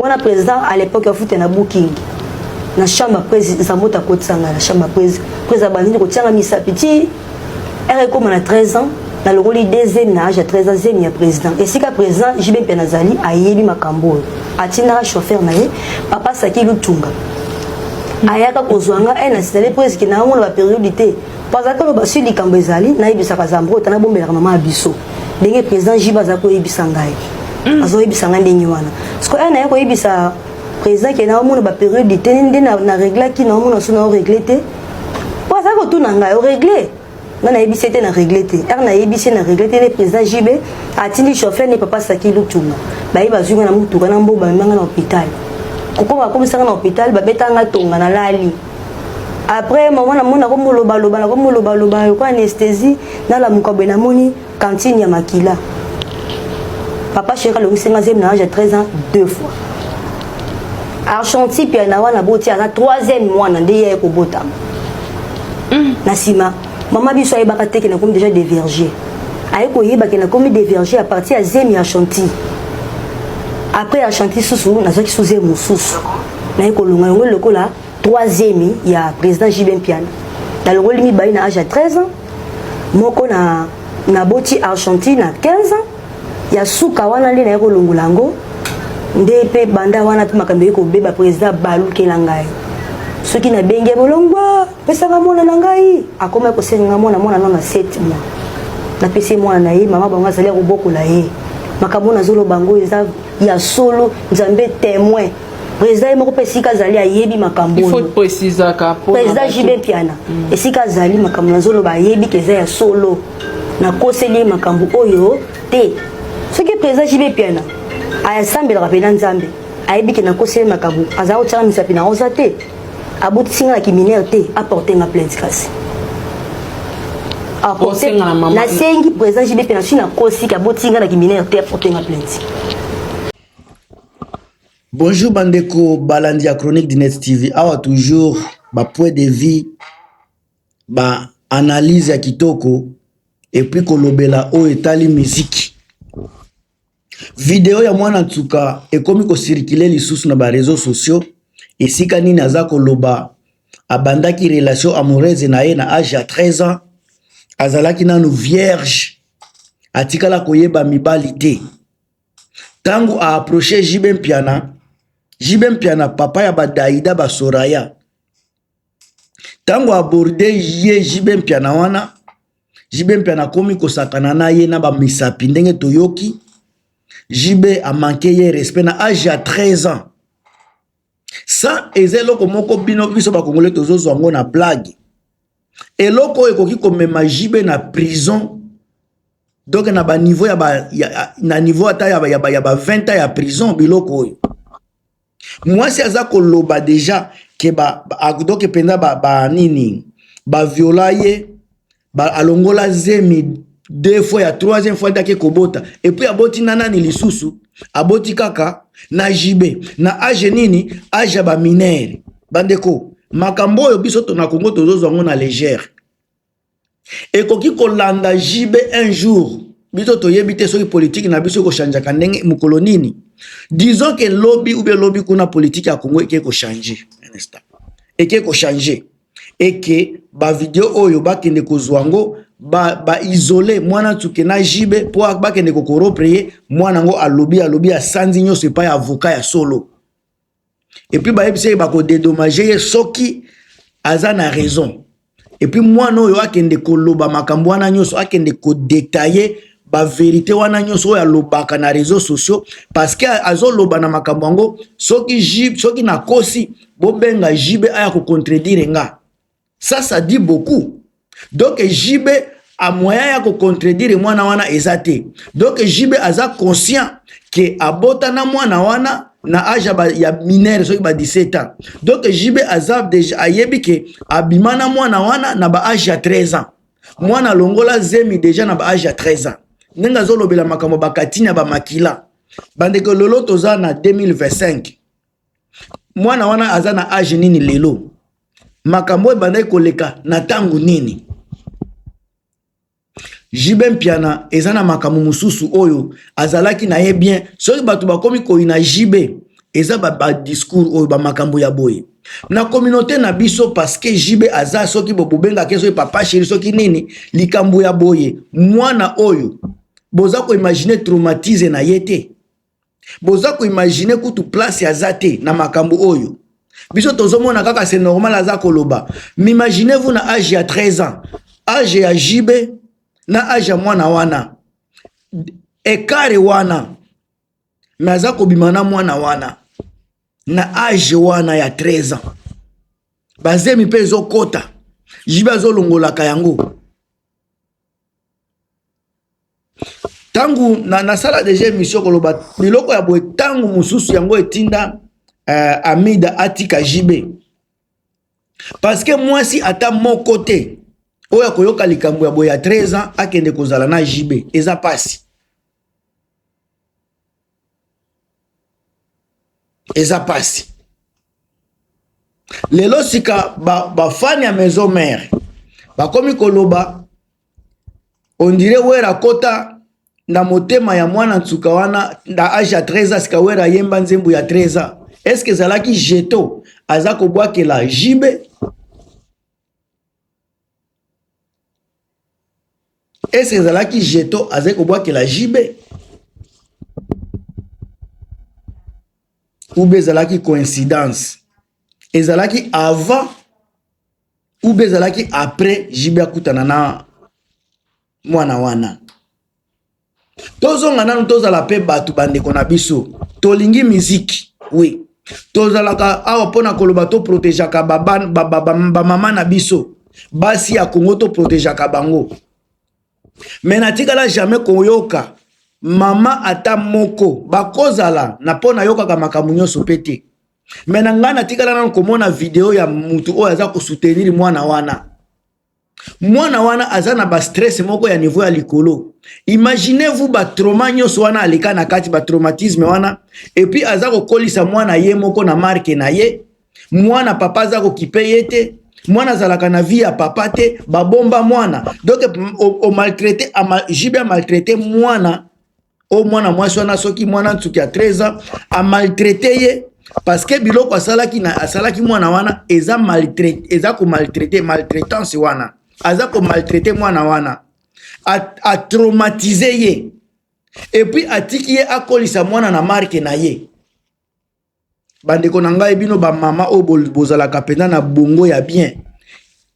wana président à l'époque afuta na booking na chambre prise nzamboto akotisanga na chambre prise prise abandini kotianga misapi ti ere ekóma na 13 ans nalongoli de zemi na age ya 13 ans zemi ya président esika président jb mpe nazali ayebi makambo oyo atindaka chauffeur na ye papa saki lutunga ayaka kozwa nga e nasilali prise ke nayango na baperiode te mpo azalaki oloba si likambo ezali nayebisaka zambrota nabombelaka mama ya biso ndenge président jiba aza koyebisa ngai mm. azoyebisa ngai ndenge wana sikoyo aya naye koyebisa président ke naomona baperiode eteni nde na reglaki naomona so nao regle te po azali kotuna ngai oregle nga nayebisi ete na regle te r nayebisi na regle te nde président jb atindi chauffeur ne papa saki lutumba baye bazwi nga na motuka na mboka bamemanga na hôpital kokoma bakomisanga na hôpital babetanga tonga na lali après maman na mona comme loba loba na comme loba loba yo anesthésie na la mukabe na moni cantine ya makila papa cheka le musenga zem na âge 13 ans deux fois archanti pia na wana boti ana troisième mois na ndeye ko bota mm. na sima maman biso ayebaka te ke na comme déjà des vergers aye koyeba ke na comme des vergers à partir ya zemi ya chantier après ya chantier susu nazwaki suze mosusu naye kolonga yango lokola troisième ya président JB Mpiana nalongoli mibale na age ya 13 ans moko na naboti Argentine na 15 ans ya suka wana nde naye kolongola yango nde mpe banda wana mpe makambo eye kobeba président balukela ngai soki nabengi ye bolongwa pesanga mwana na ngai akoma kosenga ngai mwana mwana nano na 7 mois napesi mwana na ye mama bango azali ya kobokola ye makambo nazoloba yango eza ya solo nzambe témoin président ye moko mpe esika azali ayebi makambo président jibe mpiana mm. esika azali makambo nazoloba ayebi ke eza ya solo nakoseli ye makambo oyo te soki président jibe mpiana asambelaka mpe na nzambe ayebi ke nakoseli makambo azala kotyaka misapi na rosa te abotisi nga na kiminere te aporte nga plainte kasi nasengi président jibe mpiana soki nakosi ke abotisi nga na kiminere te aporte nga plainte Bonjour bandeko balandi ya Chronique du Net TV. Awa toujours ba points de vie, ba analyse ya kitoko et puis kolobela oyo etali musique. Video ya mwana nsuka ekomi ko circuler lisusu na ba réseaux sociaux esika nini aza koloba abandaki relation amoureuse na ye na age ya 13 ans azalaki nanu vierge atikala koyeba mibali te. tangu a approcher JB Mpiana JB Mpiana papa ya badaida ba Soraya tangu aborde ye JB Mpiana wana JB Mpiana akomi kosakana na ye na ba misapi ndenge toyoki JB a manque ye respect na age ya 13 ans sa eza eloko moko bino biso bakongole tozozwa yango na blague eloko oyo ekoki komema jibe na prison donc na baniveau ya ba, ya, na niveau ata ya, ya, ya ba 20 ans ya prison biloko oyo mwasi aza koloba deja ke ba, ba, donc mpenza ba, ba nini baviola ye ba alongola zemi deux fois ya troisième fois ndaki kobota epuis aboti na nani lisusu aboti kaka na jibe na age nini age ya baminere bandeko makambo oyo biso tona kongo tozozwa yango na légère ekoki kolanda jibe un jour biso toyebi te soki politiki na biso ekochangeaka ndenge mokolo nini disons ke lobi ube lobi kuna politiki ya kongo ekei kochange ekei kochange et que ba video oyo bakende kozwa yango ba, ba isole mwana tsuke na jibe mpo bakende kokoropre ye mwana yango alobi alobi asanzi nyonso epai ya avoka ya solo epuis bayebisa ye bakodedomage ye soki aza na raison epuis mwana oyo akende koloba makambo wana nyonso akende kodetaille baverité wana nyonso oyo alobaka na réseau sociaux parce que azoloba na makambo yango soki soki nakosi bobenga JB aya ko contredire nga ça ça dit beaucoup donc JB a moyen ya ko contredire mwana wana eza te donc JB aza conscient que abota na mwana wana na age ya minere soki ba 17 ans donc JB aza deja ayebi ke abima na mwana wana na ba age ya 13 ans mwana longola zemi deja na ba age ya 13 ans ndenge azolobela makambo bakatini ya bamakila bandeko lelo toza na 2025 mwana wana aza na age nini lelo makambo oyo ebandaki koleka na ntango nini jibe mpiana eza na makambo mosusu oyo azalaki na ye bien soki bato bakomi koyina jibe eza badiscours oyo bamakambo ya boye na communauté na biso parceke jibe aza soki bobengaki soki papa sheri soki nini likambo ya boye mwana oyo boza koimagine traumatise na ye te boza ko imaginer kutu place aza te na makambo oyo biso tozomona kaka c'est normal aza koloba m'imaginez vous na age ya 13 ans age ya JB na age ya mwana wana ekare wana me aza kobima na mwana wana na age wana ya 13 ans bazemi mpe ezokota jibe azolongolaka yango ntango na nasala deja emission koloba biloko ya boye ntango mosusu yango etinda uh, amida atika jb parceke mwasi ata moko te oyo akoyoka likambo ya boye ya 13 ans akende kozala na jb eza mpasi eza pasi lelo sika bafani ba ya maison mare bakomi koloba ondire wera kota na motema ya mwana nsuka wana na age ya 13 sika wera ayemba nzembo ya 13 eske ezalaki jeto aza kobwakela jibe Est-ce que ezalaki jeton azali kobwakela JB ou bien ezalaki coïncidence? Ezalaki avant ou bien ezalaki après JB akutana na mwana wana tozonga nanu tozala mpe bato bandeko na biso tolingi miziki oui tozalaka awa mpo na koloba toprotegeaka bamama ba, ba, ba, ba na biso basi ya kongo toprotegeaka bango me natikala jamais koyoka mama ata moko bakozala na mpo nayokaka makambo nyonso mpe te me na ngai natikala nano komona video ya motu oyo aza kosoutenir mwana wana mwana wana aza na ba stress moko ya niveau ya likolo imaginez vous ba trauma nyonso wana aleka na kati ba traumatisme wana epuis aza kokolisa mwana ye moko na marke na ye mwana papa aza kokipe ye te mwana azalaka na vie ya papa te babomba mwana donc omaltraite jb amaltraite mwana o mwana mwasi wana soki mwana nsuki ya 13 ans amaltraite ye parce que biloko asalaki na asalaki mwana wana eza maltraite eza komaltraite maltraitance wana aza komaltraite mwana wana atraumatise ye epuis atiki ye akolisa mwana na marke na ye bandeko na ngai bino bamama oyo bozalaka mpenza na bongo ya bien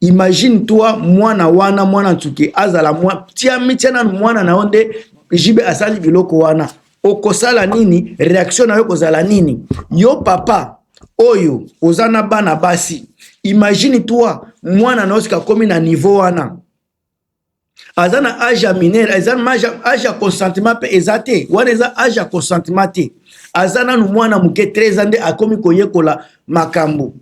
imagine toi mwana wana mwana nsuke azala mwa tia mitia nanu mwana na yo nde jibe asali biloko wana okosala nini reaction na yo kozala nini yo papa oyo oza na bana basi imagine toi mwana na yo sika akomi na niveau wana aza na age ya minere eza age ya consentement mpe eza te wana eza age ya consentement te aza nanu mwana moke 13 ans nde akomi koyekola makambo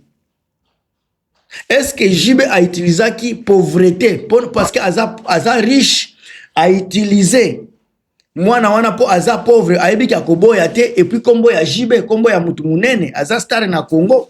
eske jibe autilisaki pauvrete parce que aza, aza riche autilize mwana wana mpo aza pauvre ayebi ki akoboya te epuis nkombo ya jibe nkombo ya motu monene aza stare na congo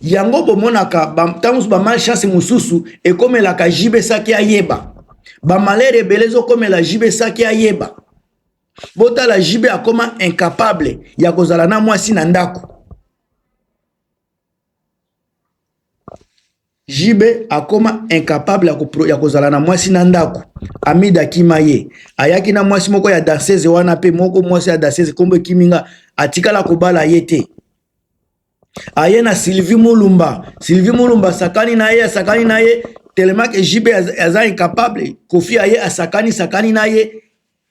yango bomonaka ntango mosusu bamalchance mosusu ekomelaka jibe saki ayeba bamalere ebele ezokomela jibe saki ayeba botala jibe akoma incapable ya kozala na mwasi na ndako JB akoma incapable ya, ko, ya kozala na mwasi na ndako. Amida akima ye, ayaki na mwasi moko ya danseuse wana pe moko mwasi ya danseuse kombo ekimi nga, atikala kobala ye te. Aye na Sylvie Mulumba, Sylvie Mulumba sakani na ye, asakani na ye tellement que JB aza incapable, Kofi aye asakani sakani na ye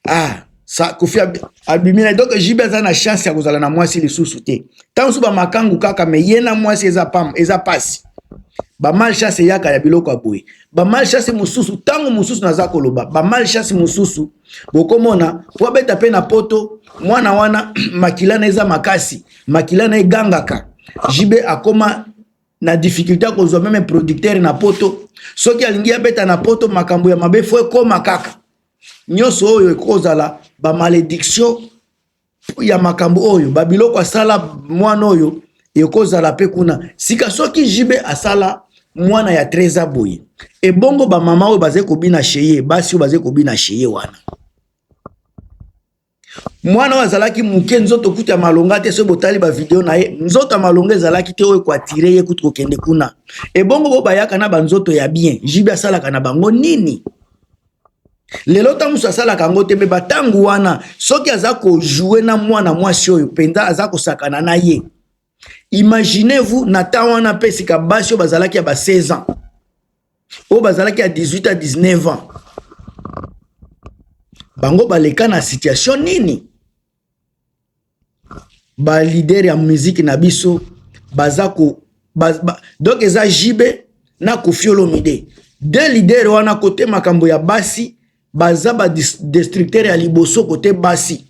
ah sa kofi abimi na donc jibe aza na chance ya kozala na mwasi lisusu te ntango mosusu bamakangu kaka me ye na mwasi eza pam eza pasi bamalchance eyaka ya biloko ya boye bamalchance mosusu ntango mosusu naza koloba bamalchance mosusu bokomona po abeta mpe na poto mwana wana makila na eza makasi makila na egangaka jibe akoma na difficulté ya kozwa meme producteur na poto soki alingi abeta na poto makambo ya mabe fo ekoma kaka nyonso oyo ekozala bamalediction ya makambo oyo babiloko asala mwana oyo ekozala mpe kuna sika soki jibe asala mwana ya treza boye ebongo bamama oyo bazali kobina sheye basi oyo bazali kobina sheye wana mwana oyo azalaki moke nzoto kutu ya malonga te soki botali bavideo na ye nzoto ya malonga ezalaki te oyo ekoatire ye kutu kokende kuna ebongo bo bayaka na banzoto ya bien jibi asalaka na bango nini lelo ntango mosusu asalaka yango te mpe bantango wana soki aza kojoue na mwana mwasi oyo mpenza aza kosakana na ye Imaginez vous na temps wana pe sika basi oyo bazalaki ya ba 16 ans oyo bazalaki ya 18 à 19 ans bango baleka na situation nini ba leader ya musique na biso baza ko ba, ba, donc eza JB na Koffi Olomide deux leader wana kote makambo ya basi baza ba destructeur ya liboso kote basi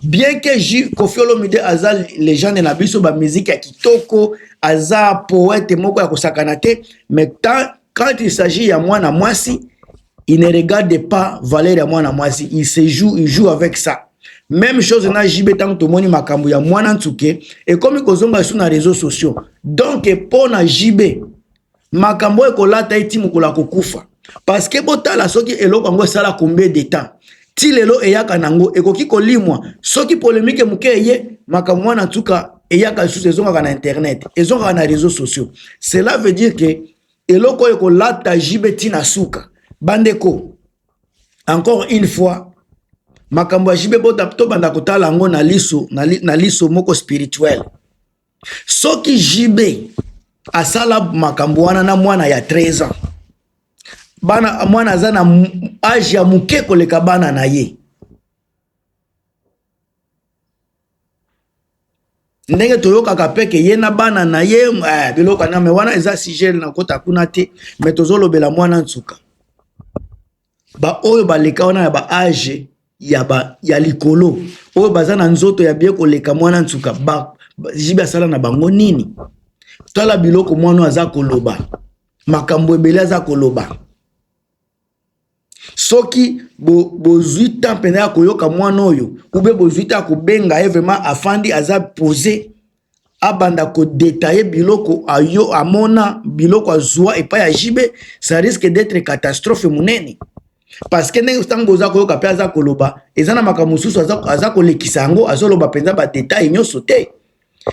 bien que J Koffi Olomide aza legende na biso ba musique ya kitoko aza poète moko ya kosakana te mais tant quand il s'agit ya mwana mwasi il ne regarde pas valeur ya mwana mwasi il se joue il joue avec ça même chose na JB tango tomoni makambo ya mwana nsuke ekomi kozonga lisusu na réseaux sociaux donc mpo na JB makambo oyo ekolata ye ti mokolo akokufa parceke botala soki eloko yango esala combien de temps ti lelo eyaka nango ekoki kolimwa soki polemike moke eye makambo wana ntuka eyaka lisusu ezongaka na internet ezongaka na réseau sociaux cela veut dire que eloko oyo ekolata jibe ntina suka bandeko encore une fois makambo ya jibe tobanda kotala yango na liso na liso moko spirituel soki JB asala makambo wana na mwana ya 13 ans bana mwana aza na age ya moke koleka bana na ye ndenge toyokaka mpe ke ye na bana na ye eh, biloko aname wana eza sujet na kota kuna te me tozolobela mwana nsuka baoyo baleka wana na baage ya, ba, ya likolo oyo baza na nzoto ya bie koleka mwana nsuka ba, ba, jibe asala na bango nini tala biloko mwana aza koloba makambo ebele aza koloba soki bozwi bo temps mpenza ya koyoka mwana oyo ube bozwi te ya kobenga ye vraiment afandi aza pose abanda ko detailler biloko ayo amona biloko azua epai ya JB ça risque d'être catastrophe munene parce que ndenge ntango oza koyoka mpe aza koloba eza na makambo mosusu aza, aza kolekisa yango azoloba mpenza badetail nyonso te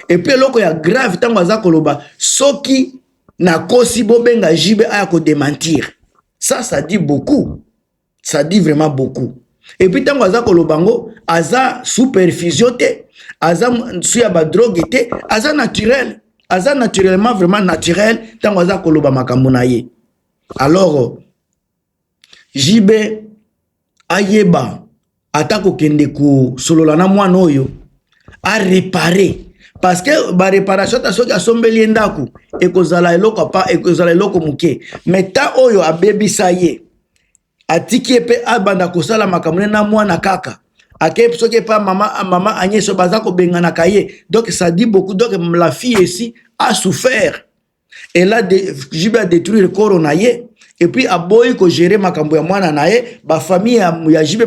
epuis eloko ya grave ntango aza koloba soki nakosi bobenga jibe aya kodementir ça ça dit beaucoup ça dit vraiment beaucoup et puis tango aza koloba ngo aza superfusion te aza su ya ba drogue te aza naturel aza naturellement vraiment naturel tango aza koloba makambo na ye alors JB ayeba ata kokende kosolola na mwana oyo arepare parce que ba réparation ta soki asombeli ye ndako ekozala eloko pa ekozala eloko moke mais ta oyo abebisa ye atiki ye mpe abanda kosala makambo ne na mwana kaka akei soki epa mama mama agneso baza kobenganaka ye donc ça dit beaucoup donc la fille esi a souffert elle a de, JB a détruire koro na ye et puis aboyi ko gérer makambo ya mwana na ye ba famille ya, ya JB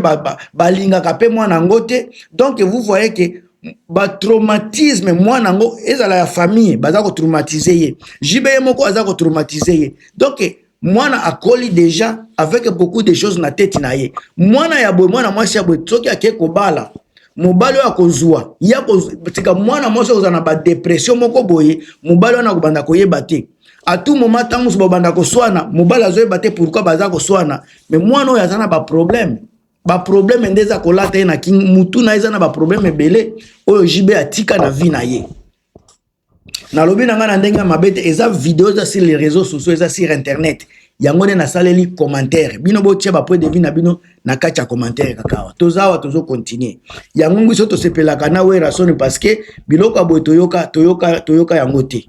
balingaka ba, ba pe mwana yango te donc vous voyez que ba traumatisme mwana yango ezala ya famille baza ko traumatiser ye JB ye moko aza ko traumatiser ye donc mwana akoli deja avec beaucoup de choses na tete na ye mwana ya boye mwana mwasi ya boye soki ake kobala mobali oyo akozwa ye akotika mwana mwasi akozala na badepression moko boye mobali wana akobanda koyeba te atu moma ntango mosusu babanda koswana mobali azoyeba te pourkui baza koswana me mwana oyo aza na baproblème baproblème nde eza kolata ye na king mutu na ye eza na baproblème ebele oyo jb atika na vie na ye nalobi na ngai na ndenge ya mabe te eza video eza sur les réseaux sociaux eza sur internet yango nde nasaleli commentaire bino botia bapoint de vue na bino na kati ya commentaire kaka awa toza awa tozo continue yango ngiso tosepelaka na werasoni parce que biloko ya boye toyoka toyoka toyoka yango te